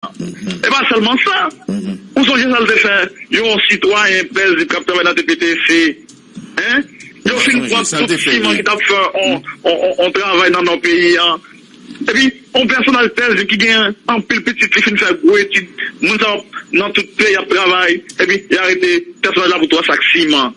E pa sèlman sa, ou sonje sa l te fè yon sitwayen pèzib k ap travay nan TPTC? Yo fin pran tout siman ki t ap fè yon travay nan nò peyi a. Epi, yon pèsonaj pèzib ki gen anpil pitit li fin fè gwo etid. Moun sa yo nan tout peyi y ap travay, epi y arete pèsonaj la pou twa sak siman.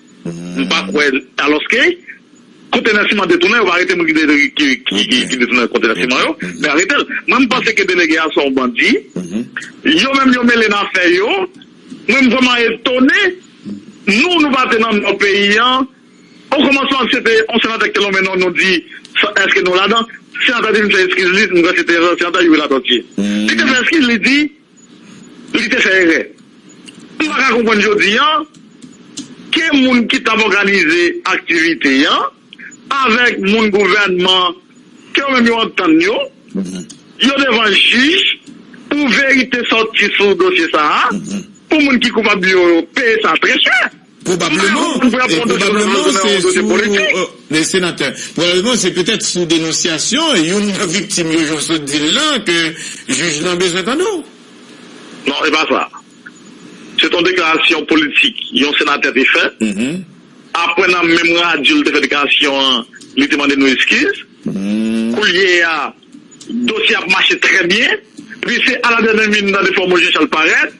M pa kwè alòske kontènè siman detounen yo pa arete moun ki detounen kontènè siman yo men aretel mwen m panse ke delege a se yon bandi yo menm yo mele nan afè yo mwen m vrèman etone nou nou pa te nan nò peyi an o kòmansman se te yon senatè ki te lonmen non nou di èske nou ladan senatè te vin fè eskiz li m kwè se te senatè Youri Latortue li te fè eskiz li di. Li te fè erè. M pa ka konprann jodi an ke moun ki t ap òganize aktivite an avèk moun gouvènman ke yo menm yo antann yo, yo devan jij pou verite sòti sou dosye sa a, pou moun ki koupab yo peye sa trè chè. Pwobableman, pwobableman se sou, Senatè, pwobableman se petèt sou denonsyasyon youn nan viktim yo, jan w sot di l la, ke jij lan bezwen tande w. Non, e pa sa. Se te yon deklarasyon politik yon senatè te fè. Apre nan menm radyo li te fè deklarasyon an, li te mande nou eskiz. Koulye a, dosye a ap mache trè byen. Epi se aladènè min nan de fòmo Jan Chal parèt.